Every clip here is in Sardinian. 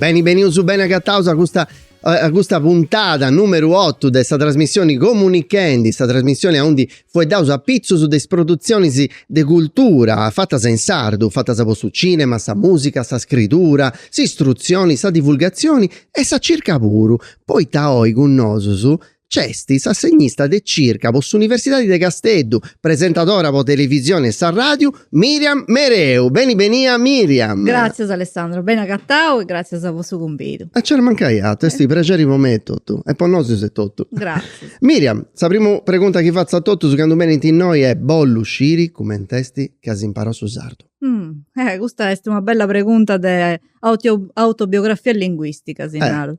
Beni benius beni agataus a custa a custa puntada numeru 8 de sa trasmissioni Comunichendi, sa trasmissioni aundi fueddaus apitzus de is produtzionis de cultura fatas in sardu, fatas po su cinema, sa musica, sa scridura, s'istrutzioni, sa divulgatzioni e sa circa puru, poita oi cun nosus Nc'est s'assegnista de circa po s'Universidadi de Casteddu, presentadora po televisioni e sa ràdiu, Miriam Mereu. Beni benia Miriam! Gràtzias Alessandro, beni agatau e gràtzias po su cumbidu. A nci mancai atru, est prexeri po mei etotu e po nosus etotu. Gràtzias. Miriam, sa primu pregunta chi fatzu a totus candu benint innoi est, bollu sciri cument'est chi as imparau su sardu. Eh, custa est una bella pregunta de autobiografia linguistica, si naru.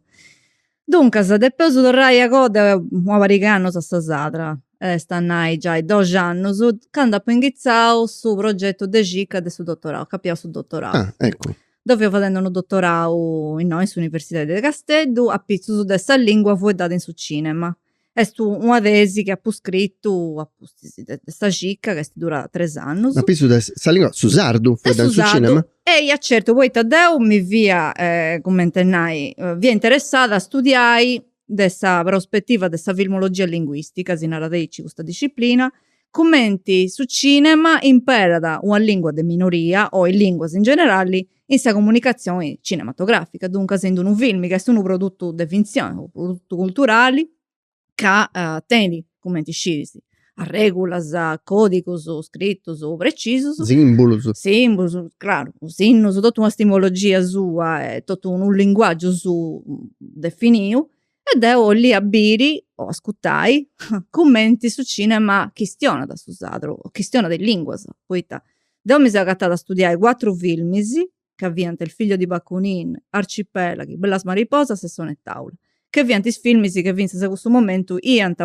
Duncas depeus torrai a coa de una pariga 'e annus a sa sarda, est a nai giai doxi annus, candu apu inghitzau su progetu de circa de su dottorau, ca apu pigau su dottorau. Ah eccu. Deu fia fadendi unu dottorau innoi in s'universidadi de Casteddu, apitzus de sa lingua fueddada in su cinema. Est una tesi chi apu scritu a pustis de sa circa chi est durada tres annus. Ma apitzus de sa lingua, su sardu fueddau in su cinema? Eia certu, poita deu mi fia, cumenti a nai, fia interessada a studiai de sa prospetiva de sa filmologia linguistica, si narat aici custa disciplina, cumenti su cinema imperat una lingua de minoria o is linguas in generali in sa comunicatzioni cinematogràfica, duncas in d'unu filmi ca est unu produtu de fintzioni, unu produtu culturali ca tenit, cumenti scis, arregulas, còdigus scritus precisus, simbulus, simbulus, craru, sinnus, totu una simbologia sua e totu unu linguàgiu suu definiu E deu 'ollia biri o ascutai cumenti su cinema chistionat su sardu, o chistionat is linguas, poita deu mi seu agatada a studiai cuatru filmis, ca fiant Il figlio di Bakunin, Arcipelaghi, Bellas mariposas e Sonetàula, chi fiant is filmis che fintzas a cussu momentu iant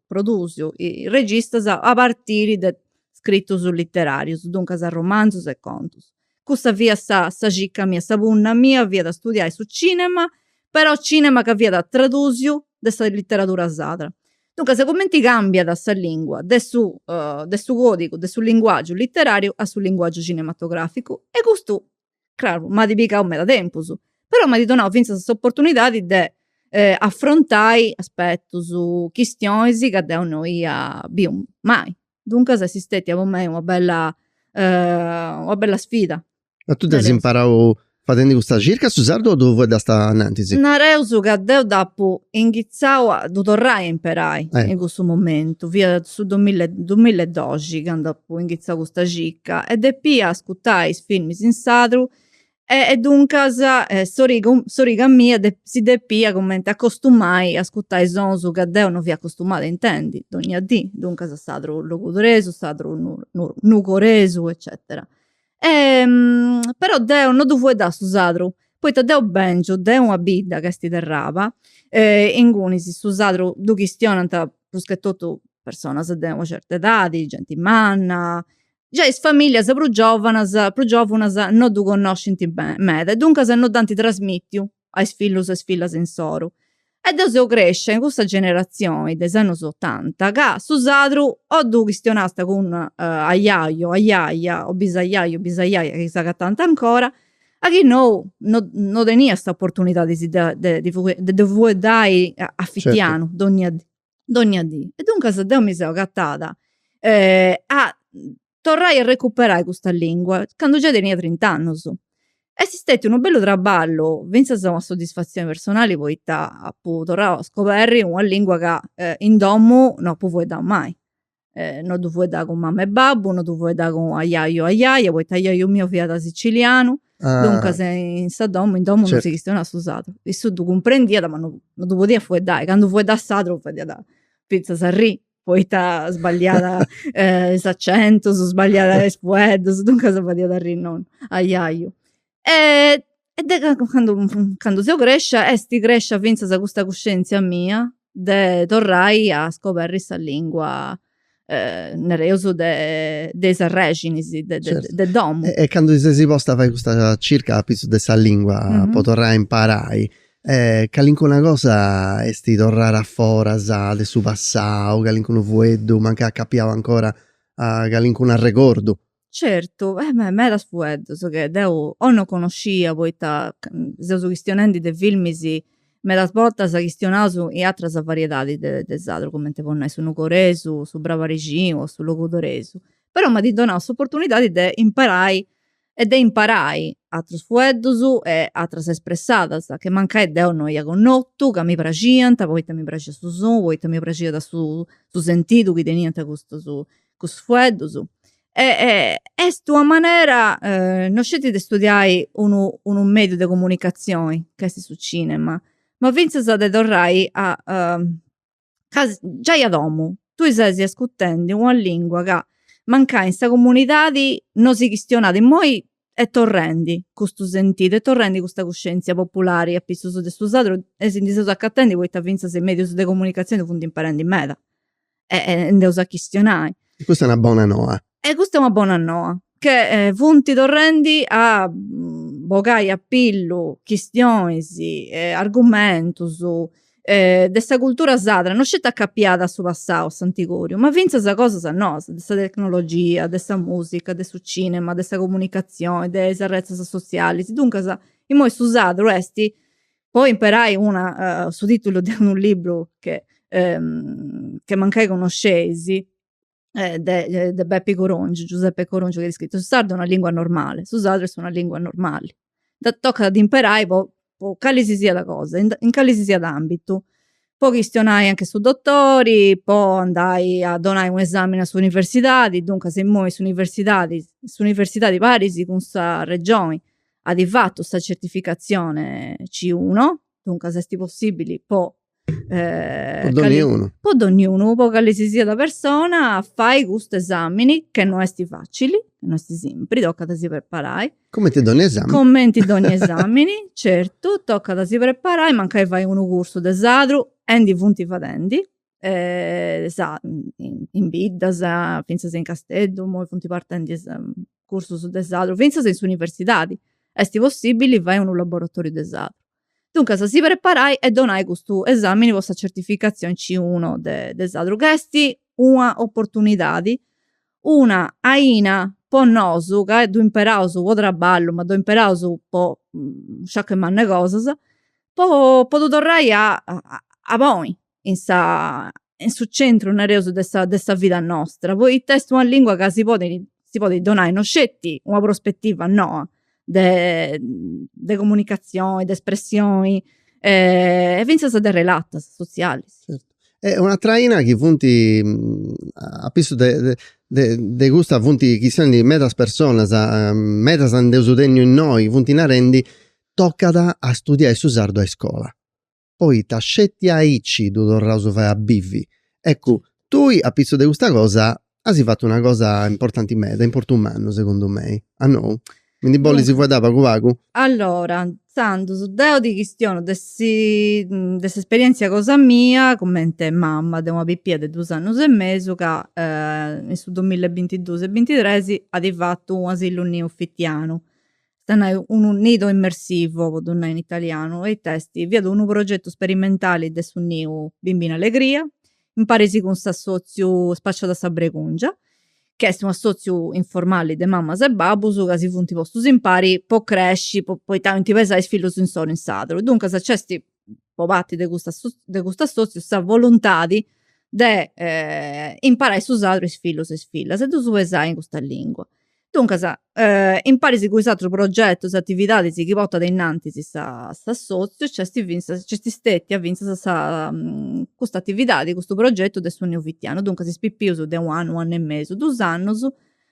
produsiu is registas a partiri de scritus literarius, duncas romanzus e contus. cussa fiat sa sa circa mia sa punna mia fiat a studiai su cinema però cinema ca fiat tradusiu de sa literadura sadra duncas cumenti cambiat sa lingua de su de su codigu de su linguagiu literariu a su linguagiu cinematograficu e custu craru m'at pigau meda tempus però m'at donau finzas s'opportunidadi de affrontai aspetus chistionis ca deu no ia biu mai Duncas est stetia po mei una bella una bella sfida. Ma tu dd'as imparau fadendi custa circa a su sardu o ddu fueddast anantis? Nareus ca deu dd'apu inghitzau a ddu torrai a imperai in cussu momentu, fiat su dumilla dumilla e doxi candu apu inghitzau custa circa e depia ascutai is filmis in sardu E e duncas s'origa s'origa mia de si depia cumenti acostumai a ascutai is sonus ca deu no fia acostumada a intendi dogna dì, duncas a s'atru logudoresu, s'atru nugoresu eccetera. Però deu no ddu fuedda su sardu, poita deu bengiu de una bidda ca esti Terraba, ingunis su sardu ddu chistionant prus che totu personas de una certa edadi, genti manna giai is famìllias prus giòvanas prus giòvunas no ddu connoscint meda e duncas no dd'ant trasmìtiu a is fillus e is fillas insoru. E deu seu crescia in cussa generatzioni de is annus otanta ca su sadru o ddu chistionast cun ajaju ajaja o bisajaju o bisajaja chi s'agatànt ancora a chi nou no teniast s'oportunidadi de ddu fueddai a fitianu donnia dì dònnia dì. E duncas deu mi seu agatada a torrai a recuperai custa lingua candu già tenia trint'annus. Est stetiu unu bellu traballu, finzas una soddisfatzioni personali poita apu torrau a scoberri una lingua ca in domu no apu fueddau mai. eh, no ddu fuedda cun mamma e babbu, no ddu fuedda cun ajaju ajaja, poita ajaju miu fiat sicilianu, ah. duncas in sa domu, in domu certo. non si chistionàt su sadru, issu ddu cumprendiat ma no, no ddu podiat fueddai, candu fueddàt sadru fadiat fintzas arri, poita sballiàt eh, is acentus, sballiàt is fueddus, duncas fadiat arri nonnu ajaju. e de candu seu crescia est crescia finzas custa cuscientzia mia de torrai a scoberri sa lingua nareus de de is arrexinis de de domu. E candu ti sesi posta a fai custa circa apitzus de sa lingua po torrai a imparai calincuna cosa est torrada a foras de su passau, calincunu fueddu, mancai acapiau ancora a calincunu arregordu Certu, beh medas fueddus che deu o no connoscia poita seus chistionendi de filmis medas bortas chistionaus in atras variedadis de de sardu cumenti po nai su nugoresu, su brabarixinu o su logudoresu, però m'at donau s'opportunidadi de imparai e de imparai atrus fueddus e atras espressadas che mancai deu no ia connotu ca mi praxiant poita mi praxiat su sonu poita mi praxiat su su sentidu chi teniant custus cussus fueddus e est una manera no sceti de studiai unu unu mediu de comunicazioni ca esti su cinema ma finzas de torrai agiai a domu tui ses ascurtendi una lingua ca mancai in sa comunidadi no si chistionat immoi est torrendi custu sentidu est torrendi custa cuscenzia populari apissus de su sardu e si ndi seus acatendi poita finzas is medius de comunicazioni funt imparendi meda e nd'eus a chistionai. E custa est una bona noa. E custa est una bona noa, che funt torrendi a bogai a pillu chistionis, argumentus de sa cultura sarda, no sceti acapiada a su passau, a s'antigòriu, ma fintzas cosas noas, de sa tecnologia, de sa musica, de su cinema, de sa comunicatzioni, de is arretzas sotzialis, duncas, imoi su sardu est po imperai una su titulu de unu libru che che mancai conosceisi de de Pepi Corongiu Giuseppe Corongiu chi at scritu su sardu è una lingua normale su sardu est una lingua normali tocat a ddi imperai po po cali si siat cosa in cali si siat ambitu po chistionai anche su dotori po andai a donai u' esamini a s'universidadi duncas imoi s'universidadi s'universidadi paris cun sa regioni at fatu sa certificatzione C1, duncas est possibili po po donniunu, po donniunu, po cali si siat persona fai custu esamini che no est facili, no est simpri, tocat a si preparai, cumenti donni esamini, cumenti donni esamini certu, tocat a si preparai, mancai fai unu cursu de sardu e ndi funt fadendi in biddas finzas in Casteddu immoi funt partendi is cursus de sardu finzas in s'universidadi esti possibili fai unu laboratoriu de sardu duncas si preparai e donai custu esamini po sa certificazioni C uno de de sardu ca esti una opportunidadi una aina po nosu ca ddu imperaus po trabballu ma ddu imperaus po sciaccu mannu 'e cosas po ddu torrai a ponni in sa in su centru nareus de sa de sa vida nostra poita est una lingua ca si podi si podit donai no sceti una prospetiva noa de de comunicazioni de espressioni e finzas de relatas sotzialis. Certu. E una atera faina chi funt a pissu de de de custa funt chistionendi medas personas medas nd'eus tenniu innoi funt narendi tocat a studiai su sardu a iscola poita sceti aici ddu torraus a fai a bivi. Eccu, tui a pitzus de custa cosa asi fatu una cosa importanti meda, importu mannu segundu mei. O nou? Mi ndi bollis fueddai pagu pagu? Allora, intzandus deu di chistionu de si, de s'esperientzia cosa mia cumenti mama de una pipia de dus annus e mesu ca in su dumilla e bintiduus e bintitresi adi fatu u' asilu neu fitianu Ita nai, unu nido immersivo, po ddu nai in italianu, e ita est? Fiat unu progetu sperimentali de su niu Bimbina Allegria, imparis cun s'assòtziu Spacciada sa Bregùngia, chi est un'assòtziu informali de mamas e babbus ca si funt postus impari po cresci, po po ita 'olint pesai is fillus insoro in sadru. Duncas nc'est, po parti de custa de custu assòtziu, sa voluntadi de imparai su sardu a is fillus e is fillas e ddus pesai in custa lìngua. Duncas, imparis cun is atrus progetus e atividadis chi portat innantis s'assòtziu nc'est fintzas, nc'est stètia fintzas sa custa atividadi, custu progetu de su neu fitianu. Duncas is pipius de u' annu, u' annu e mesu, dus annus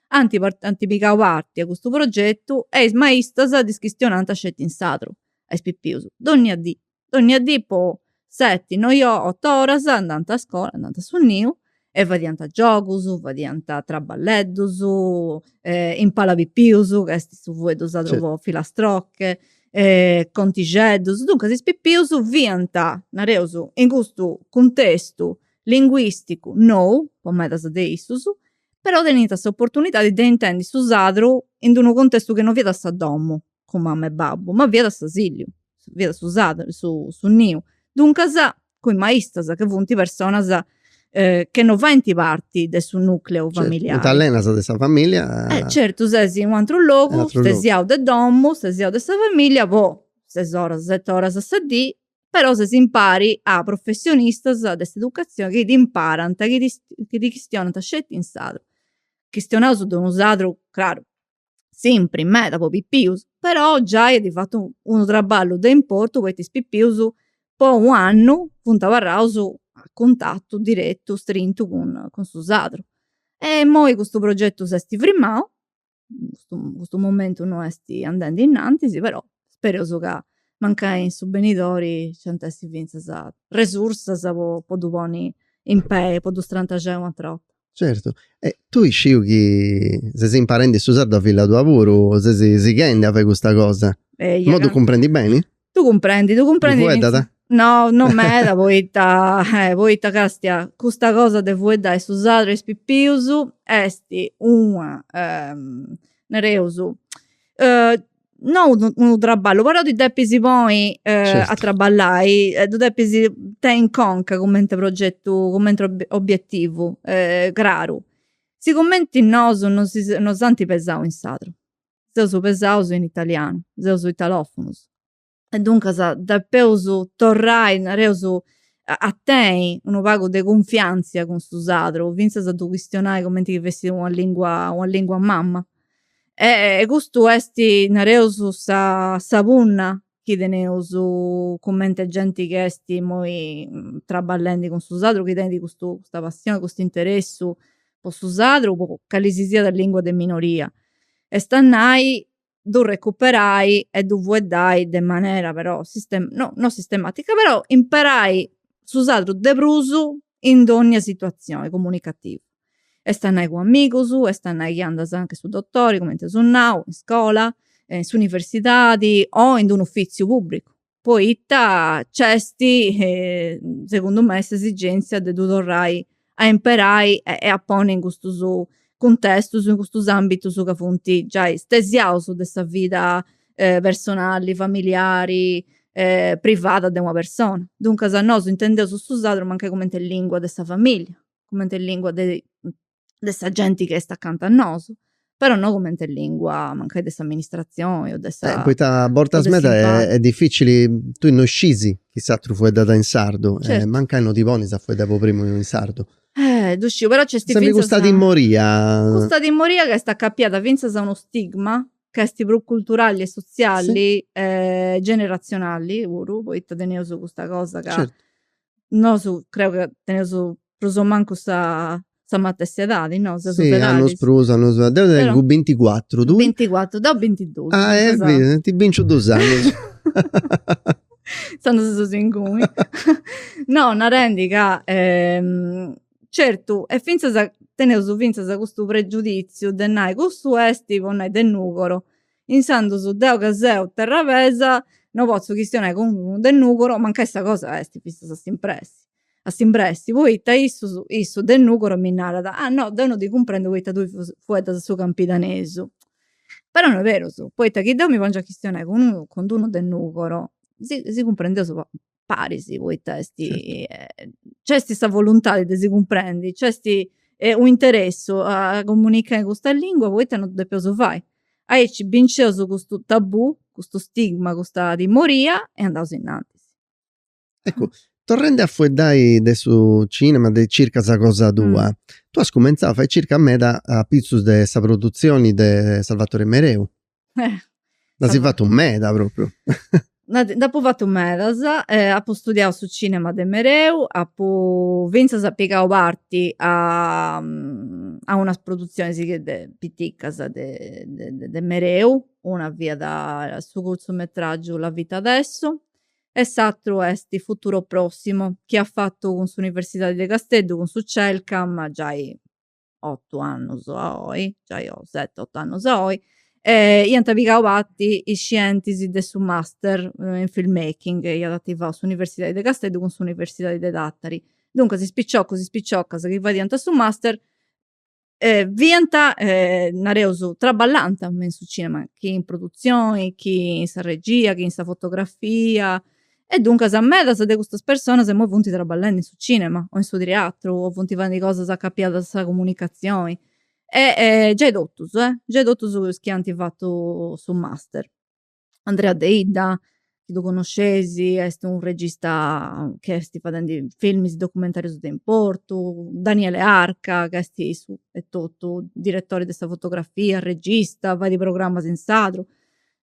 ant ant pigau parti a custu progetu e is maistas ddis chistionant sceti in sardu a is pipius, dònnia dì dònnia dì po seti noi o oto oras andant a scola andant a su niu e fadiant giogus fadiant traballeddus impàlapipius ca est su fueddu sadru po filastroche contixeddus duncas is pipius fiant nareus in custu cuntestu linguisticu nou po medas de issus però teniant s'oportunidadi de intendi su sardu in d'unu cuntestu chi non fiat sa domu cun mamma e babbu, ma fiat s'asìlliu, fiat su saddu, su niu. Duncas, cun is maistas, chi funt personas chi non faint parti de su nùcleu familiari. Funt alenas de sa famìllia. Certu, ses in u' ateru logu, stesiau de domu, stesiau de sa famìllia po ses oras, seti oras a sa dì, però ses impari a professionistas de s'educatzioni chi t'imparant, chi ti chistionant sceti in sardu, chistionaus de unu sardu, craru, simpri meda po pipius però giai at fatu unu traballu de importu poita is pipius po u' annu funt abarraus a cuntatu diretu strintu cun su sardu e imoi custu progetu s'est frimau custu momentu no est andendi innantis però spereus ca mancai in su benidori nc'ant essi fintzas resursas po ddu ponni in pei po ddu strantaxai u' atra 'orta. Certu, e tui sciu chi ses imparendi su sardu a filla tua puru, ses sighendi a fai custa cosa, immoi ddu cumprendi beni? Ddu cumprendi, ddu cumprendi. Ddu fueddat? No, no meda poita, poita castia, custa cosa de fueddai su sardu a is pipius esti una, nareus no unu traballu però ti depis poi a traballai e ddu depis tenni in conca cumenti progetu cumenti obiettivu craru sigumenti nosu non non s'anti pesau in sardu seus pesaus in italianu seus italofonus e duncas depeus torrai, nareus, a tenni unu pagu de cunfiantzia cun su sardu, fintzas a ddu chistionai cumenti chi fessit una lingua, una lingua mama. E custu esti, nareus, sa sa punna chi teneus cumenti a genti chi esti immoi trabballendi cun su sardu, chi teneus custa passioni, custu interessu po su sardu, po calisisiat lingua de minoria. Est a nai ddu recuperai e ddu fueddai de manera però no no sistematica però imperai su sardu de prus in dogna situazioni comunicativa est a nai cun amigus est a nai chi andas anche a su dotori cumenti aus nau in iscola in s'universidadi o in d'unu ufiziu publicu poita nc'est segundu mei s'esigenzia de ddu torrai a imperai e a ponni in custus cuntestus in custus ambitus ca funt giai stesiaus de sa vida personali familiari privada de una persona duncas nosu intendeus custu sardu mancai cumenti lingua de sa familia cumenti lingua de de sa genti chi est acanta a nosu, però no cumenti a lingua mancai de s'amministratzioni o de sa. Eh, poita a bortas meda est dificili, tui no scisi chi s'aturu fueddada in sardu e mancai no ti ponis a fueddai po primu in sardu. Eh, ddu sciu, però nc'est fintzas. Sempri custa timoria. Custa timoria ca est acapiada fintzas a unu stigma ca est prus culturali e sotziali e generatzionali puru, poita teneus custa cosa ca. Certu. nosu creu ca teneus prus o mancu sa sa matessi edadi no? Sì, annus prus annus mancu, deu tengu binticuatru, tui? Binticuatru, deu bintidus. Ah biri, ti binciu dus annus. Intzandus seus inguni. No, narendi ca certu e fintzas teneus fintzas custu pregiuditziu de nai cussu esti po nai de Nugoro Intzandus deu ca seu terravesa no potzu chistionai cun unu de Nùgoro, mancai sa cosa est fintzas a s'imbressi, a s'imbressi, poita issu, issu de Nùgoro mi narat, ah no deu no ti cumprendu poita tui fueddas su campidanesu. Però no est berus, poita chi deu mi pongiu a chistionai cun unu, cun unu de Nùgoro si si cumprendeus po paris poita est nc'est sa voluntadi de si cumprendi nc'est un'interessu a comunichai in custa lingua poita non ddu depeus fai aici bincieus custu tabù custu stigma custa timoria e andaus innantis. Eccu torrendi a fueddai de su cinema de circa sa cosa tua tue as cumenzau a fai circa meda apitzus de sa produtzioni de Salvatore Mereu Nd'asi fatu meda propriu. Nd'apu fatu medas, apu studiau su cinema de mereu, apu finzas pigau parti a unas produtzionis de piticas de de mereu, una fiat su curtzumetragiu La vita adesso e s'àteru est Futuro prossimo chi at fatu cun s'universidadi de Casteddu cun su Celcam giai otu annus a oi, giai o seti, otu annus a oi, iant pigau parti is scientis de su master in film making chi iat ativau s'universidadi de Casteddu cun s'universidadi de Tàtari. Duncas is piciocus, is piciocas chi fadiant su master fiant, nareus, traballànta in su cinema, chi in produtzioni, chi in sa regia, chi in sa fotografia, E duncas medas de custas personas imoi funt traballendi in su cinema o in su triatru o funt fadendi cosas acapiadas a sa comunicazioni e giai totus, giai totus is chi ant fatu su master. Andrea Deidda, chi ddu connoscesi, est u' regista chi esti fadendi filmis documentarius de importu, Daniele Arca chi esti issu etotu diretori de sa fotografia, regista, fait programas in sardu,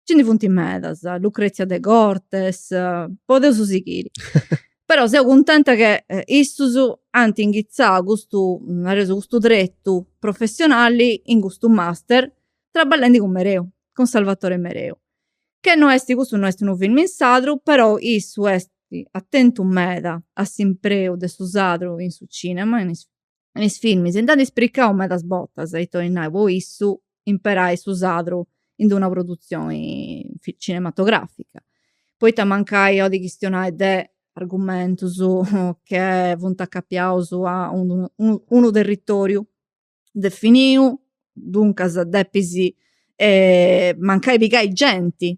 Nci ndi funt medas, Lucrezia Degortes, podeus sighiri. Però seu cuntenta che issus ant inghitzau custu, nareus, custu tretu professionali in custu master, traballendi cun Mereu, cun Salvatore Mereu. Che no est, custu no est unu filmu in sardu, però issu est atentu meda a s'impreu de su sardu in su cinema, in is in is filmis nd'ant ispricau medas bortas ita 'olit nai po issu imperai su sadru in d'una produtzioni cinematografica poita mancai 'olit chistionai de argumentus che funt acapiaus a unu unu territoriu definiu duncas depis mancai pigai genti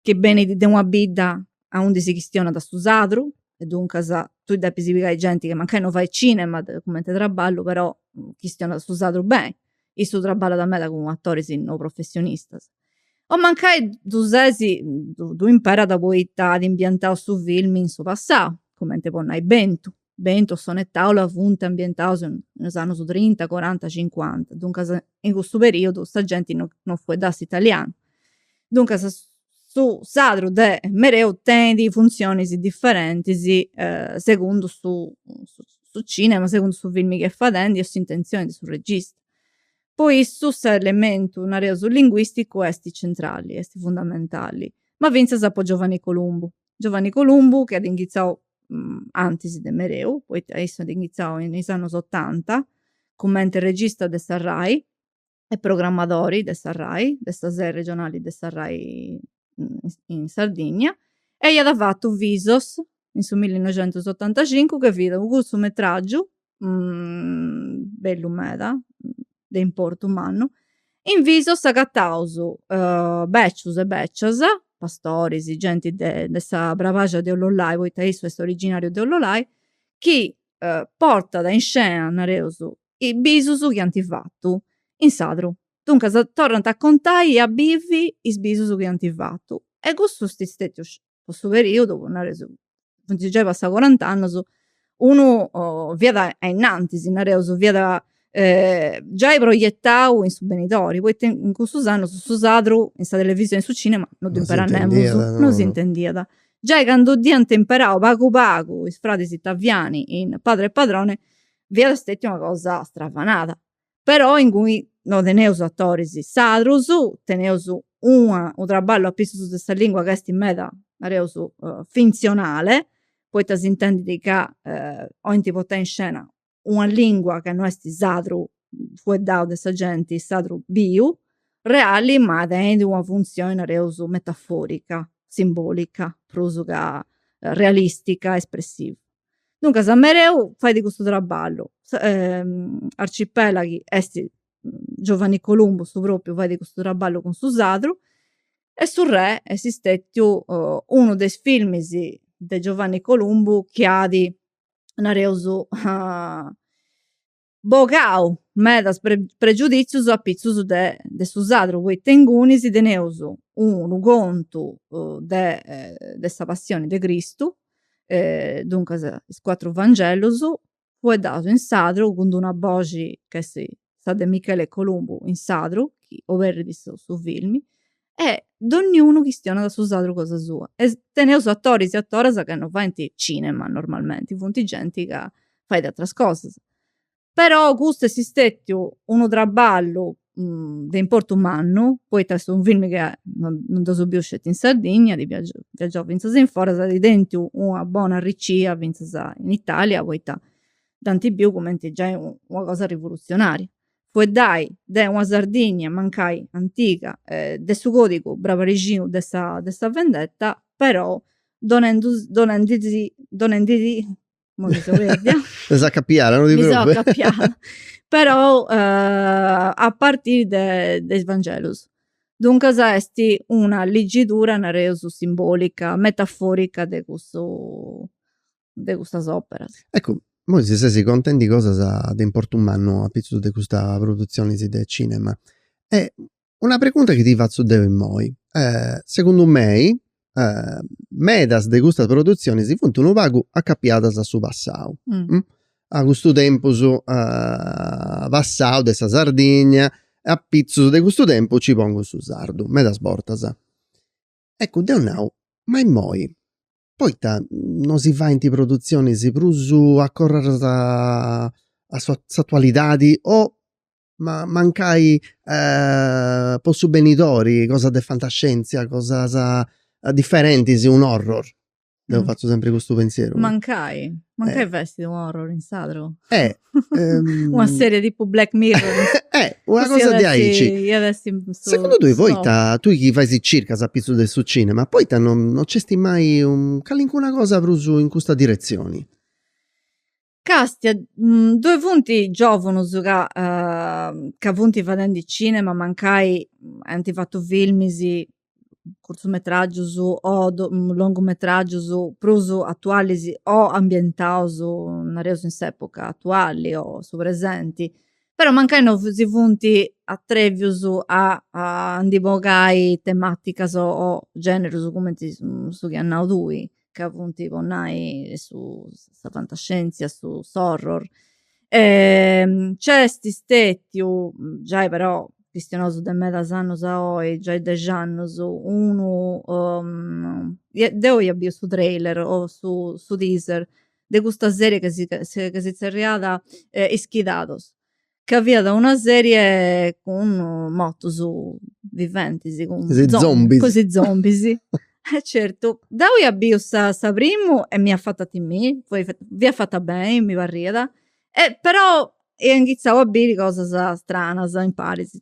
chi benit de una bidda aundi si chistionat su sadru e duncas tui depis pigai genti chi mancai non fait cinema cumenti traballu però chistionat su sadru beni issu traballat meda cun atoris no professionistas o mancai ddu ses ddu imperat poita at ambientau su filmi in su passau cumenti po nai bentu bentu sonetàula funt ambientados in is annus trinta, coranta, cincuanta, duncas in cussu periodu sa genti no no fueddàt su italianu. Duncas su sadru de mereu tenit funtzionis diferentis segundu su su cinema, segundu su filmi chi est fadendi o s'intentzioni de su regista. Po issu s'elementu, nareus linguisticu, est centrali, est fundamentali, ma fintzas po Giovanni Columbu, Giovanni Columbu chi at inghitzau antis de mereu poita issu at inghitzau in is annus otanta cumenti regista de sa rai e programmadori de sa rai de sa sede regionali de sa rai in Sardigna e iat fatu Visos in su millinoixentusotantacincu chi fiat u' curtzumetràgiu bellu meda de importu mannu in visos agataus becius e becias pastoris genti de de sa bravaxia de Ollolai poita issu est originariu de Ollolai chi portat in scena nareus is bisus chi ant fatu in sadru duncas torrant a contai e a bivi is bisus chi ant fatu e cussu est stetiu po su perìodu, po nareus, funt giai passaus corant'annus, unu fiat ainnantis, nareus, fiat giai proietau in su benidori, poita in cussus annus su sadru in sa televisioni e in su cinema non ddu imperàt nemus, non s'intendiat, giai candu dd'iant imperau pagu pagu is fradis Taviani in Padre e Padrone fiat stetia una cosa stravanada, però inguni no teneus atoris sadrus, teneus una unu traballu apissus de sa lingua ca est meda, nareus, fintzionale, poita s'intendit ca 'olint portai in scena una lingua ca no est sadru fueddau de sa genti, sadru biu, reali, ma tenit una funtzioni, nareus, metaforica, simbolica, prus ca realistica, espressiva Duncas Mereu fait custu traballu Arcipelaghi est Giovanni Columbu su propriu fait custu traballu cun su sadru e Su Re est stetiu unu de is filmis de Giovanni Columbu chi at nareus bogau medas pregiuditzius a pitzus de su sadru poita ingunis teneus unu contu de sa passioni de Cristu duncas is cuatru vangellus fueddaus in sadru cun d'una boxi ca est sa de Michele Columbu in sadru chi oberrit su filmi e donniunu chistionat su sadru cosa sua e teneus atoris e atoras ca non faint cinema normalmenti, funt genti ca fait ateras cosas, però custu est stetiu unu traballu de importu mannu poita est unu film chi no dd'eus biu sceti in Sardigna, at viagiau fintzas in foras, at tèntiu una bona arricia fintzas in Italia poita dd'ant biu cumenti giai una cosa rivoluzionària fueddai de una Sardigna mancai antiga de su còdigu brabarixinu de sa de sa vendetta però donendu donendi si donendi si imoi mi seu perdia Est acapiada, no ti mi seu acapiada però a partiri de de is vangelus duncas est una liggidura nareus simbolica metaforica de cussu de custa òpera. Eccu, moi si sesi contendi cosas de importu mannu apitzus de custa produtzioni de cinema. E una pregunta chi ti fatzu deu immoi, segundu mei medas de custas produtzionis funt unu pagu acapiadas a su passau, a custu tempus passau de sa Sardigna, apitzus de custu tempus nci pongu su sardu, medas bortas. Eccu, deu nau, ma immoi, poita no si faint produtzionis prus acorradas a s'atualidadi o ma mancai po su benidori, cosas de fantascièntzia, cosas diferentis, un horror. Deu fatzu sempri custu pensieru. Mancai, mancai eh. fessit un horror in sadru. Eh, um... una serie tipo Black Mirror. eh, una Così cosa di aici. Ia dessi su, Secundu tui, poita, tui chi fais circas a pitzu de su cinema, poita non, non nc'esti mai un, calincuna cosa prus in custa direzioni? Càstia ddoe funt giòvunus ca ca funt fadendi cinema mancai ant fatu filmis curtzumetràgius o longumetràgius prus atualis o ambientaus nareus in s'època atuali o su presenti però mancai no si funt atrevius a a ndi bogai temàticas o gènerus cumenti su chi as nau tui ca funt po nai su sa fantascientzia su s'horror nc'est stetiu giai però chistionosu de medas annus a oi giai dexi annus eh no deu ia biu su trailer o su su teaser de custa serie chi si zerriat ischidados ca fiat una serie cun mortus viventis, cun is zombis, e certu, deu ia biu sa primu e m'iat fatu a timi, fiat fata beni mi parriat, però ia inghitzau a biri cosas stranas, imparis,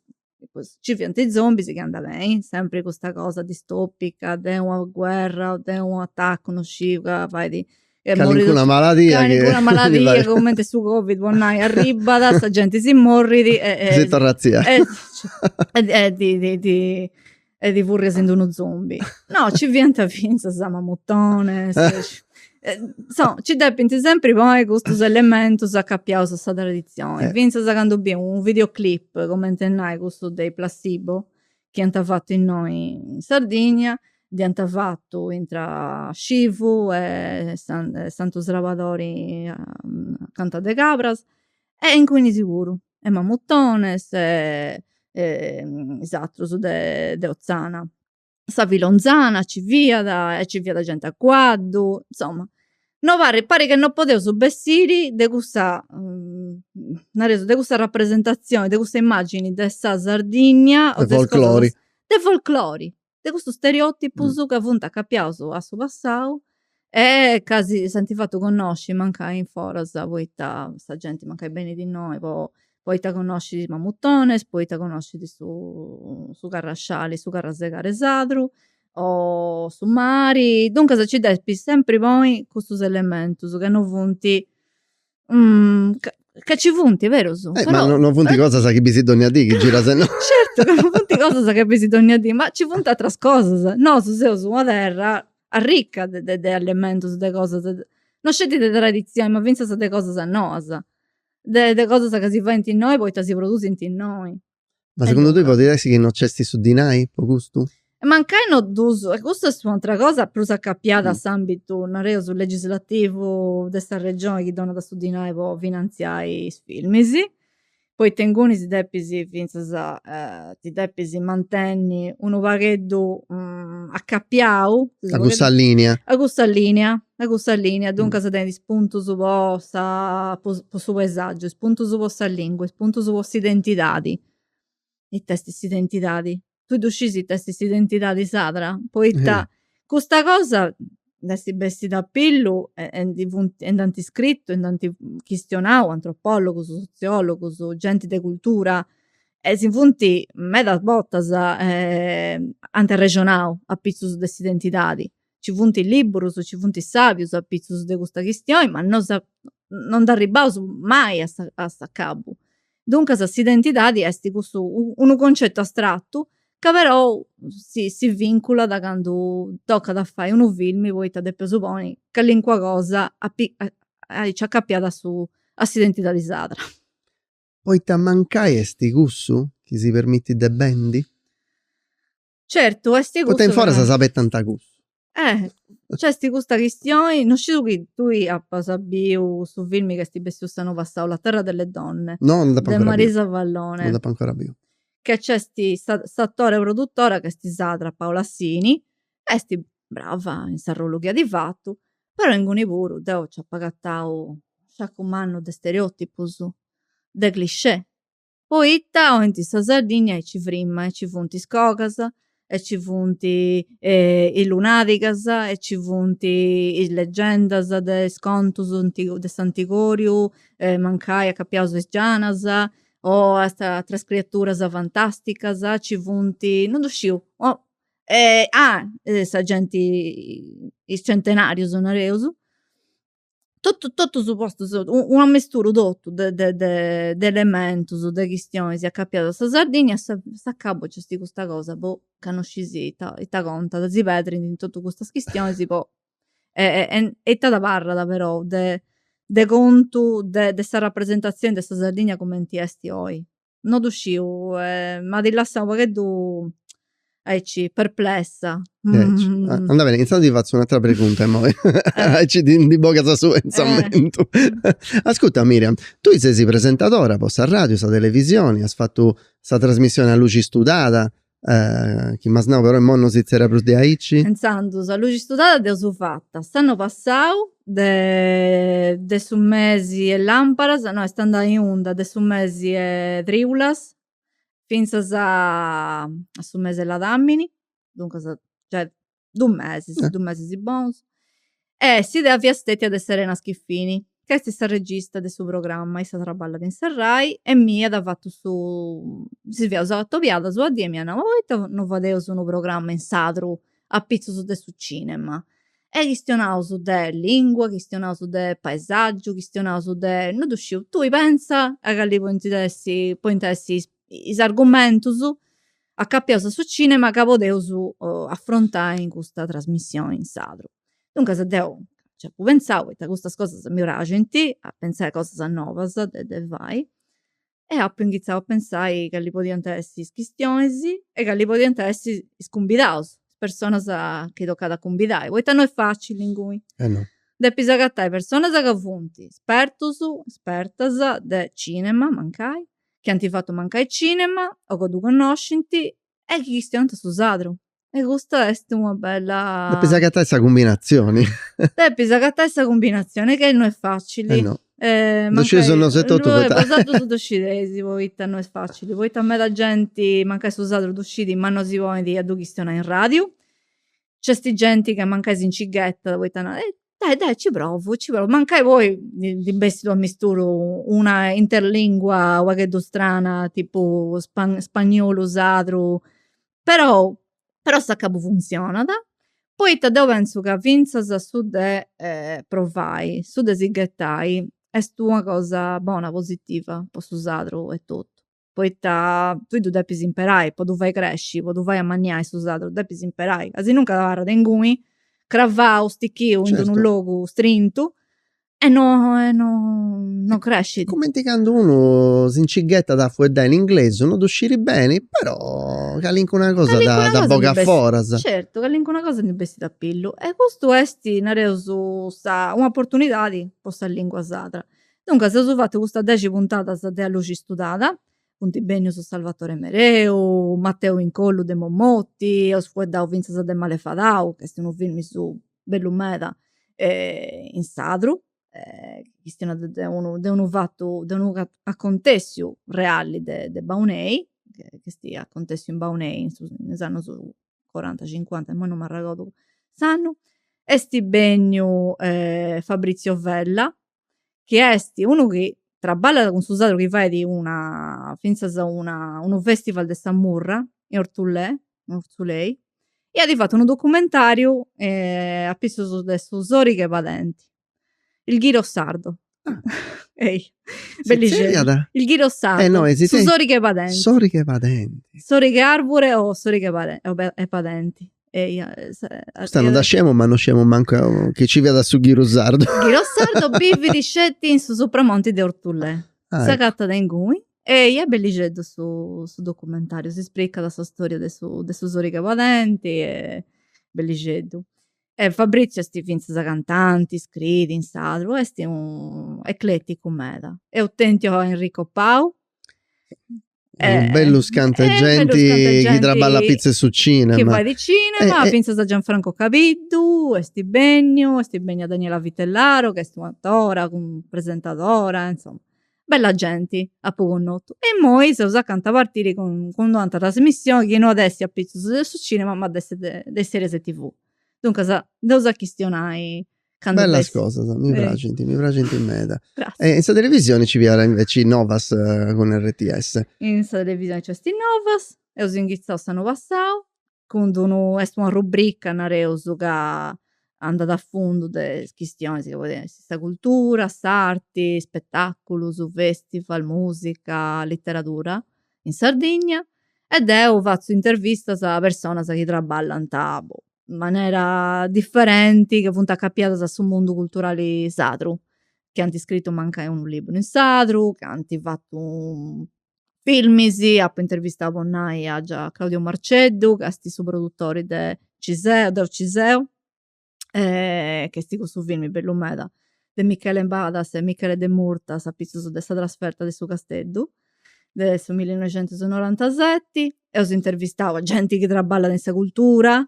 Nci fiant is zombis chi andà beni, sempri custa cosa distopica de una guerra o de u' atacu no sciu ca fait. Una maladia. Una maladia cumenti su covid po nai arribat, sa genti si morrit e. Si torrat a tzia. e ti furrias in d'unu zombi. No, ci fiant fintzas mamutones, ci depint sempri ponni custus elementus acapiaus a sa traditzioni, fintzas candu bis unu videoclip, cumenti a nai custu de is Placebo, chi ant fatu innoi in Sardigna, dd'ant fatu intra Scivu e Santu Srabadori acanta de Cabras e inguni nci fiant puru. e mamutones e is atrus de de Ozzana. Sa filonzana nci fiat e nci fiat genti a cuaddu, insoma, no par, parit ca no podeus bessiri de cussa nareus de cussa rapresentazioni, de cussa immagini de sa Sardigna o de folklori de cussus stereotipus ca funt acapiaus a su passau e ca si ant fatu connosci mancai in foras poita sa genti mancai benit innoi po poita connoscit is mamutonis poita connoscit su carrasciali su carrasegare sadru o su mari duncas nci depis sempri ponni custus elementus ca no funt Ca nci funt, est berus. Eh, ma non funt cosas chi bisi dònnia dì, chi giras e no. Certu ca non funt cosas chi bisi dònnia dì, ma nci funt ateras cosas. Nosu seus una terra arricca de elementus, de cosas, no sceti de traditzioni, ma fintzas de cosas noas. De cosas ca si faint innoi poita si produsint innoi. Ma segundu tui podit essi chi no nc'esti su dinai po custu? Mancai no ddus, e custu est un'atera cosa prus acapiada a s'ambitu, nareus, legislativu de sa Regioni chi donat su dinai po finanziai is filmis, poita inguni si depis fintzas ti depis mantenni unu pagheddu acapiau, a cussa linea, a cussa linea E custa lìnia, duncas, tenit is puntus po sa po su paesàgiu, is puntus po sa lìngua, is puntus po s'identidadi. Ita esti s'identidadi? Tui ddu scis ita esti s'identidadi sarda? Poita custa cosa nd'esti bestida a pillu e ndi funt e nd'anti scritu e nd'anti chistionau antropòlogus, sotziòlogus, genti de cultura e si funti medas bortas ant arrexonau apitzus de s'identidadi ci funt is libburus, ci funt is sabius apitzus de custa chistioni, ma no sa no nd'arribbaus mai a sa a s'acabu. Duncas s'identidadi esti cussu unu concetu astratu ca perou si si vinculat candu tocat a fai unu filmi poita depeus ponni calincuna cosa aici acapiada a su a s'identidadi sarda. Poita mancai esti cussu chi si permitit de bendi? Certu est cussu. Poita in foras s'abetant a cussu. Eh, nc'est custa chistioni, no sciu chi tui apas biu su filmi chi est bessiu s'annu passau, La terra delle donne. No, no dd'apu ancora biu. De Marisa Vallone. No dd'apu ancora biu. Ca nc'est sa, s'atori e produtora ca est sarda, Paola Sini, est brava in s'arrollu chi at fatu, però inguni puru deu nc'apu agatau sciacu mannu de stereòtipus, de cliché. Poita oint sa Sardigna aici frima e ci funt is cogas e ci funt is lunadigas e ci funt is legendas de is contus antigus de s'antigòriu e mancai acapiaus a is gianas o a ateras criaturas fantasticas ci funt, non ddu sciu ah sa genti is centenarius nareus totu totu postus unu amesturu totu de de de elementus de chistionis acapiadas a sa Sardigna a s'acabu nc'est custa cosa po ca no scis ita ita contat si pedrint in totu custas chistionis po e ita abarrat però de de contu de sa rapresentazioni de sa Sardigna cumenti esti oi no ddu sciu m'at lassau u' pagheddu aici perplessa. Andat beni, intzandus ti fatzu un'atera pregunta immoi, aici ti ndi bogas su pentzamentu. Ascurta Miriam, tui sesi presentadora po sa radiu, sa televisioni, as fatu sa trasmissioni A luxi studada, chi m'as nau però immoi no si zerriat prus de aici. Intzandus a luxi studada deu dd'apu fata s'annu passau de de su mesi 'e lamparas no est andada in onda de su mesi 'e triulas fintzas a su mesi 'e ladamini duncas giai dus mesis, dus mesis bonus. E s'idea fiat stetia de Serena Schiffini, ca est sa regista de su programma, issa traballat in sa Rai e m'iat fatu su si fiaus atobiadas una die e m'iat nau ma poita non fadeus unu programma in sardu apitzus de su cinema. E chistionaus de lingua, chistionaus de paesaggiu, chistionaus de, non ddu sciu, tui pensa a cali podint essi podint essi is argumentus Acapiaus a su cinema ca podeus afrontai in custa trasmissioni in sardu. Duncas deu nci apu pentzau poita custas cosas mi praxint a pentzai cosas novas de fai e apu inghitzau a pentzai cali podiant essi is chistionis e cali podiant essi is cumbidaus, is personas chi tocàt a cumbidai, poita no est facili inguni. Eh no. Depis agatai personas ca funt spertus, spertas de cinema mancai chi ant fatu mancai cinema o ca ddu connoscint e chi chistionant su sardu. E custa est una bella. Depis agatai sa cumbinatzioni. Depis agatai sa cumbinatzioni ca no est facili. E no. Ddu scieis bosatrus etotu bosatrus ddu scieis poita no est facili, poita meda genti mancai su sardu ddu scit ma no si ponit a ddu chistionai in radiu. Nc'est genti ca mancai si nci ghetat poita narat, Dai dai nci provu, nci provu, mancai poi ndi bessit unu amisturu, una interlingua u' pagheddu strana, tipu spagnolu sardu, però però a s'acabu funzionat, poita deu pentzu ca fintzas su de provai, su de si ghetai est una cosa bona, positiva po su sardu etotu poita tui ddu depis imperai po ddu fai cresci po ddu fai amanniai su sardu ddu depis imperai asinuncas abarrat inguni cravau stichiu in unu logu strintu e no e no no crescit. Cumenti candu unu si nci ghetat a fueddai in inglesu no ddu sciri beni però calincuna cosa dda bogat foras. Certu calincuna cosa ndi bessit a pillu e custu est nareus un'oportunidadi po sa lingua sarda Duncas eus fatu custas dexi puntadas de A luxi istudada, funt bennius Salvatore Mereu, Matteo Incollu de Mommotti, eus fueddau fintzas de Malefadau, ca est unu filmi suu bellu meda in sardu, chistionat de unu de unu fatu de unu acontessiu reali de de Baunei, ch'est acontessiu in Baunei in su in is annus coranta cincuanta, imoi non m'arregodu s'annu, est benniu Fabrizio Vella, chi est unu chi traballat cun su sardu chi fait una finzas una unu festival de sa murra in Ortzulè in Ortzulei e at fatu unu documentariu a pitzus de su sorighe 'e padenti il ghiro sardo ehi il ghiro sardo su sorighe 'e padenti sorighe 'e padenti sorighe 'e arbure o sorighe 'e padenti Custa non dda sciemus ma non sciemus mancu chi nci fiat su ghiru sardu. Ghiru sardu bivit sceti in su supramonti de Ortulè. S'agatat a inguni eja, bellixeddu su documentariu, s'ispricat sa storia de su sorighe 'e padenti est bellixeddu. E Fabrizio est fintzas cantanti, scriit in sardu, est unu ecleticu meda. Eus tentiu a Enrico Pau Eh, unus bellus cantu eh, genti chi traballat apitzus 'e su cinema. Chi fait cinema, eh, eh. fintzas a Gianfranco Cabiddu, est benniu, est bennia Daniela Vitellaro, chi est un'atora, presentadora, insomma, bella genti apu connotu. E immoi seus acanta 'e partiri cun d'un'antra trasmissioni chi no at essi a pitzus de su cinema, ma de de series TV. Duncas, dd'eus a chistionai Candu Bellas ses... cosas, mi praxint, mi praxint meda. Gratzias. E in sa televisioni nci fiat inveci Novas cun RTS. In sa televisioni nc'est Novas, eus inghitzau s'annu passau cun d'unu, est una rubrica nareus ca andat a fundu de is chistionis chi podint essi sa cultura, s'arti, spetaculus, festival, musica, literadura in Sardigna e deu fatzu intervistas a personas chi traballant, boh, in manera differenti ca funt acapiadas a su mundu culturali sardu, chi ant scritu mancai unu liburu in sardu, chi ant fatu filmis, apu intervistau po nai a già Claudio Marceddu ca esti su produtori de Ci seu, Deu ci seu ca esti cussu filmi bellu meda de Michele Badas e Michele De Murtas apitzus de sa trasferta de su Casteddu de su millinoixentusnorantaseti. Eus intervistau genti chi traballat in sa cultura,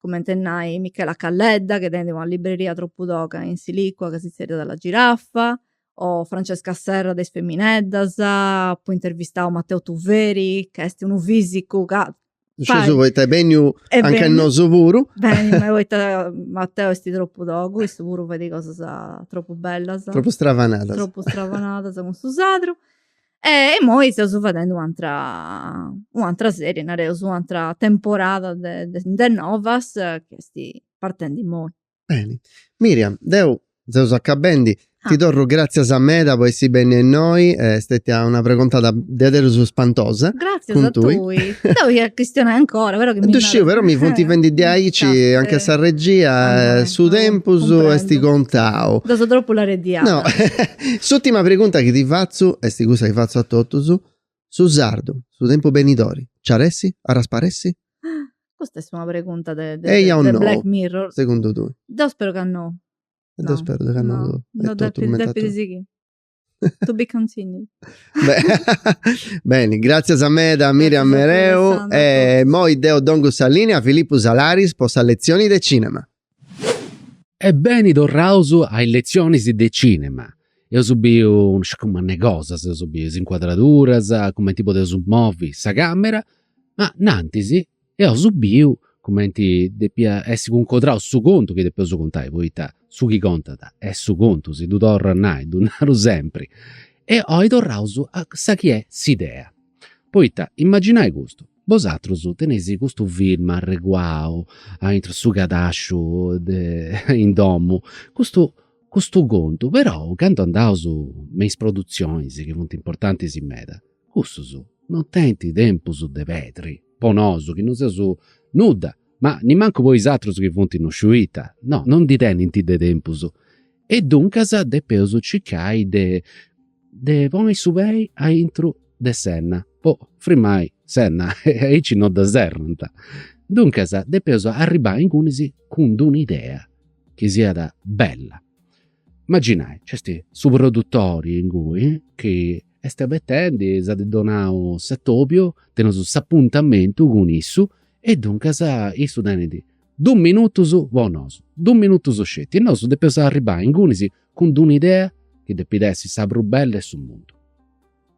cumenti a nai Michela Calledda chi tenit una libreria tropu toga in Silicua ca si tzerriat La Giraffa o Francesca Serra de Is Femineddas, apu intervistau Matteo Tuveri ca esti unu fisicu ca Scieus poita est benniu a nche nosu puru. Beni, ma poita Mateo est tropu togu, issu puru faidi cosas tropu bellas. Tropu stravanadas. Tropu stravanadas cun su sadru. E imoi seus fadendi u' atera, u' atera serie, nareus, u' atera temporada de novas chi est partendi imoi. Beni. Miriam, deu seus acabendi, ti torru gratzias meda po essi bennia innoi, est stetia una pregontada diaderus spantosa. Gratzias a tui. Cun tui. Deu ia chistionai ancora, però chi mi Ddu sciu, però mi funt fendi diaici a nche sa regia e su tempus est contau. Deu seu tropu lareddiana. No, s'urtima pregunta chi ti fatzu est cussa chi fatzu a totus, Su sardu, su tempus benidori, nci at a essi, at a sparessi? Custa est una pregunta de Black Mirror. Segundu tui? Deu speru ca no. E deu speru ca no. No, depit sighiri. To be continued. Beni, gràtzias meda Miriam Mereu e immoi deu dongu sa lìnia a Filippu Salaris po sa letzioni de cìnema. E beni torraus a is letzionis de cinema. Eus biu non sciu cantu cosas, eus biu is incuadraduras, cumenti podeus movi sa camera, ma nantisi eus biu cumenti depia essi cuncodrau su contu chi depeus contai, poita su chi contat est su contu, si ddu torru a nai, si ddu naru sempri. E oi torraus a sa chi est s'idea. Poita, imaginai custu, bosatrus teneis custu film arreguau aintru 'e su cadasciu de in domu, custu custu contu, però candu andaus me is produtzionis chi funt importantis meda, cussus non tenint tempus de pedri, po nosu chi non seus nudda, ma nimancu po is atrus chi funt no sciu ita, no, non ndi tenint de tempus e duncas depeus circai de de ponni su pei aintru de s'enna po frimmai s'enna e aici no dda serrant. Duncas depeus arribbai ingunis cun d'una idea chi siat bella. Imaginai, nc'est su produtori inguni chi est abetendi, si at donau s'atobiu, teneus s'apuntamentu cun issu e duncas issu tenit Dus minutus po nosu, dus minutus sceti e nosu depeus arribbai ingunis cun d'una idea chi depit essi sa prus bella 'e su mundu.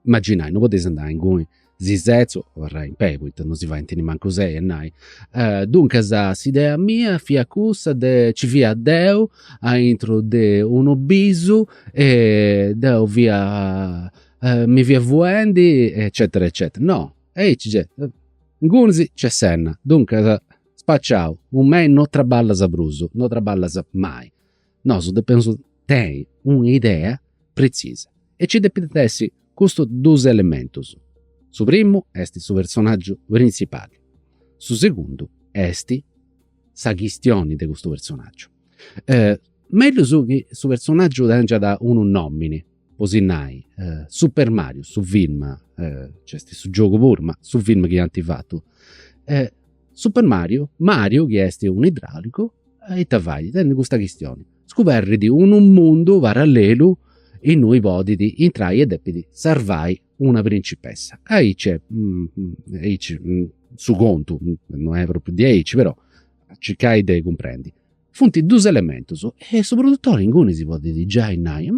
Imaginai, no podeis andai inguni si setzi, abarrai in pei poita no si faint nemancu sei e nai. Duncas s'idea mia fiat cussa de, nci fia deu aintru de unu bisu e deu fia mi fia fuendi eccetera eccetera. No, aici nc'est, ingunis nc'est s'enna, duncas Spaciau, cun mei no traballas prus, no traballas mai. Nosu depeus tenni una idea pretzisa e nci depint essi custus dus elementus. Su primu est su personaggiu printzipali, su segundu est sa chistioni de custu personaggiu. Mellus chi su personaggiu tengiat unu nomini po si nai, Super Mario, su film, nc'est su giogu puru, ma su film chi ant fatu, Super Mario, Mario chi est un'idraulicu ita fait, tenit custa chistioni, scuberrit unu mundu parallelu innui podit intrai e depit sarvai una principessa. Aici est, aici su contu, non est propriu diaici però circai de cumprendi Funt dus elementus e su produttori inguni si podit giai nai,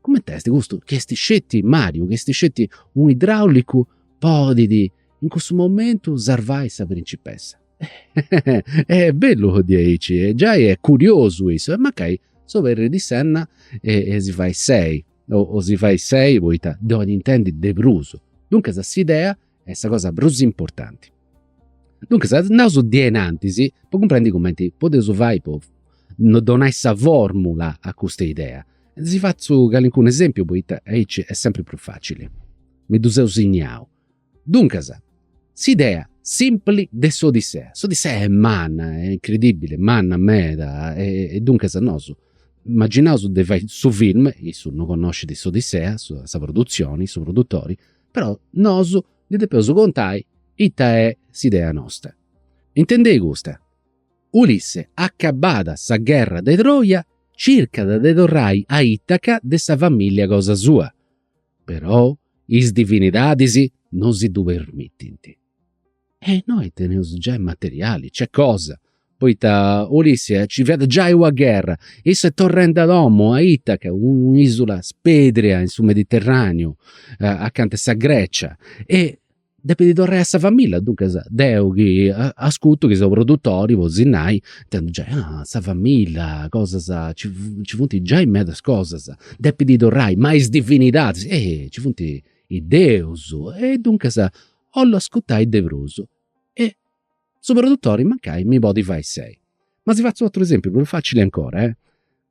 cumenti est custu chi est sceti Mariu, chi est sceti u' idraulicu podit in cussu momentu sarvai sa principessa. Est bellu de aici e giai est curiosu issu e mancai s'oberrit s'enna si fait sei o si fait sei poita ddu 'olit intendi de prus. Duncas s'idea est sa cosa prus importanti. Duncas andaus a innantis po cumprendi cumenti podeus fai a donai sa formula a custa idea. Si fatzu calincunu esempiu poita aici est sempri prus facili. Mi ddu seu signau. Duncas, s'idea simpli de s'Odissea. S'Odissea est manna, est incredibili, manna meda e duncas nosu imaginaus de fai su film, issu no connoscit s'Odissea, sa produtzioni, su produtori però nosu ndi depeus contai ita est s'idea nosta. Intendei custa, Ulisse acabada sa gherra de Troja circat de torrai a Itaca de sa famìllia cosa sua, però is divinidadis no si ddu permitint. E innoi teneus giai materiali, nc'est cosa, poita Ulisse nci fiat giai una gherra, issu est torrendi a domu, a Itaca, un'isula spèrdia in su Mediterraneu, acanta 'e sa Grecia, e depit torrai a sa familia, duncas deu chi ascutu chi seu produtori, 'olli nai, intendu giai, ah sa familia, cosas, nci funt giai medas cosas, depit torrai, ma is divinidadis, eh, nci funt is deus e duncas 'ollu ascutai de prus e su produtori mancai mi podit fai sei. Ma si fatzu otru esempiu prus facili ancora,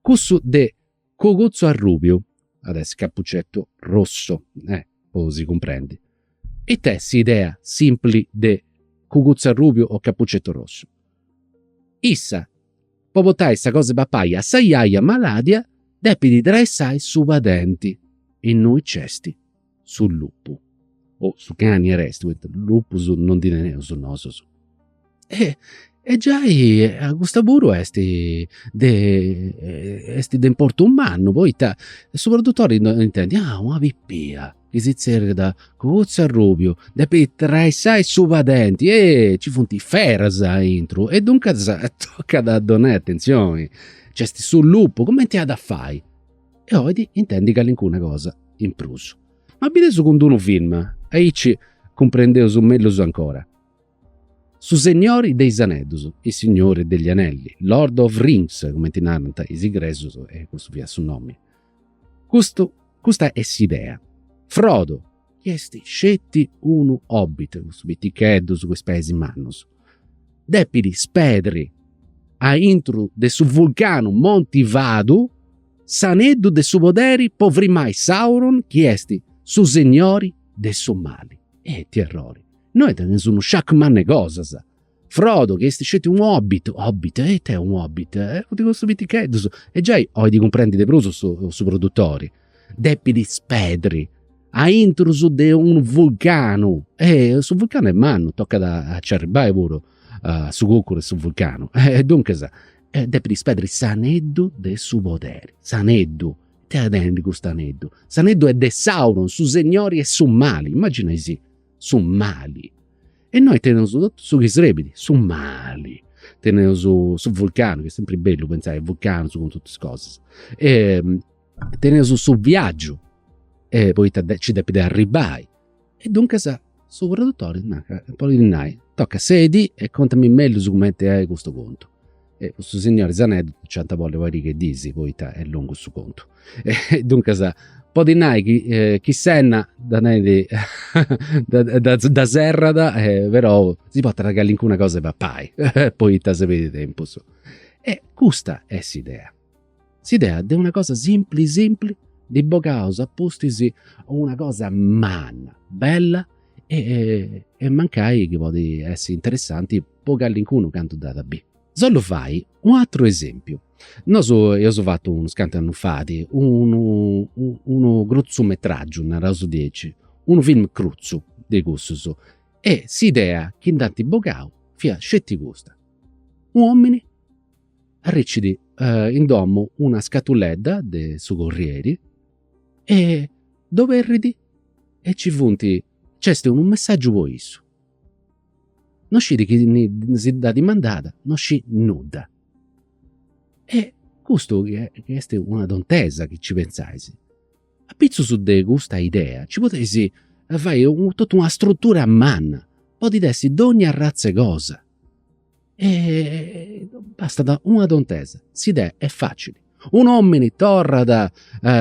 cussu de cuguzzu arrubiu, at essi cappuccetto rosso, po si cumprendi, ita est s'idea simpli de cuguzzu arrubiu o cappuccetto rosso? Issa Po portai sa cosa 'e papai a sa jaja maladia depit traissai su padenti innui nc'est su lupu, o su cani aresti poita lupus non ndi teneus nosus. E giai custa puru est de importu mannu poita su produtori intendit, ah una pipia chi si tzerriat Cuguzzu Arrubiu, depit traissai su padenti e ci funt is feras aintru e duncas tocat a donai atentzioni. Nc'est su lupu, cumenti at a fai? E olit intendi calincuna cosa in prus. Ma bideus cun d'unu film, aici cumprendeus mellus ancora. Su segnori de is aneddus, Il Signore degli Anelli, Lord of Rings, cumenti narant is ingresus, e custu fiat su nomi. Custu, custa est s'idea. Frodo, chi est sceti unu hobbit, custus piticheddus cun is peis mannus, depit spedri a intru de su vulcanu Monti Fadu s'aneddu de su poderi po frimai Sauron chi est su segnori de su mali. E ite errori! Innoi teneus unu sciacu mannu 'e cosas. Frodo, chi est sceti unu hobbit, hobbit, e ite est unu hobbit? Funt custus piticheddus, e giai 'olit cumprendi de prus su produtori, depit ispedri aintrus de unu vulcanu. E su vulcanu est mannu, tocat a nci arribbai puru a su cucuru 'e su vulcanu. E duncas, depit ispedri s'aneddu de su poderi, s'aneddu. Ite at a tenni custu aneddu? S'aneddu est de Sauron, su segnori 'e su mali. Imaginaisì su mali e innoi teneus totu su chi srebit, su mali. Teneus su vulcanu, chi est sempri bellu pentzai a vulcanus cun totus is cosas. Teneus su viaggiu poita nci depit arribbai e duncas su tradutori narat, podit nai, toca, sedi e contami mellus cumenti est custu contu. e custu signori 'e is aneddus nci ant a bolli pariga 'e dis poita est longu su contu. E duncas podit nai chi chi s'enna dda tenit dda dda serrat e però si portat calincuna cosa 'e papai poita si perdit tempus. E custa est s'idea S'idea de una cosa simpli simpli ndi bogaus a pustis una cosa manna, bella e mancai chi podit essi interessanti po calincunu candu dd'at a bì. Si 'ollu fai u' atru esempiu. Nosu eus fatu unus cantu annus fait unu unu crutzumetràgiu, naraus diaici, unu film crutzu de cussus e s'idea chi nd'ant bogau fiat sceti custa, u' omini arricit in domu una scatuledda de su corrieri e dd'oberrit e ci funt, nc'est unu messàgiu po issu. No scit chi si dd'at mandada, no scit nudda. E custu chi est una tontesa chi nci pentzais, apitzus de custa idea nci podeis fai totu una strutura manna, podit essi donnia arratz'e cosa E bastat una tontesa, s'idea est facili. Un'omini torrat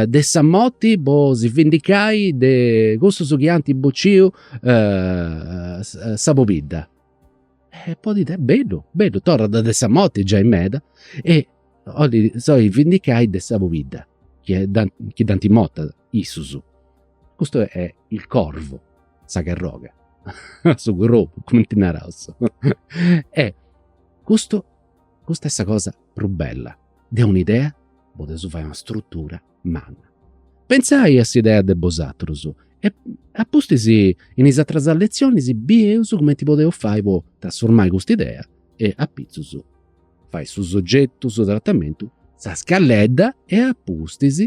de sa morti po si vendicai de cussus chi ant bociu sa pobidda. E podit essi, bellu, bellu, torrat de sa morti giai meda e 'olit si 'olit vendicai de sa pobidda chi dd'ant morta issus. Custu est il corvo, sa carroga, su crobu, cumenti naraus. E custu, custa est sa cosa prus bella. De un'idea podeus fai una strutura manna. Pentzai a s'idea de bosatrus e a pustis in is ateras letzionis bieus cumenti podeus fai po trasformai custa idea e apitzus fai su sogetu, su tratamentu, sa scalledda e apustis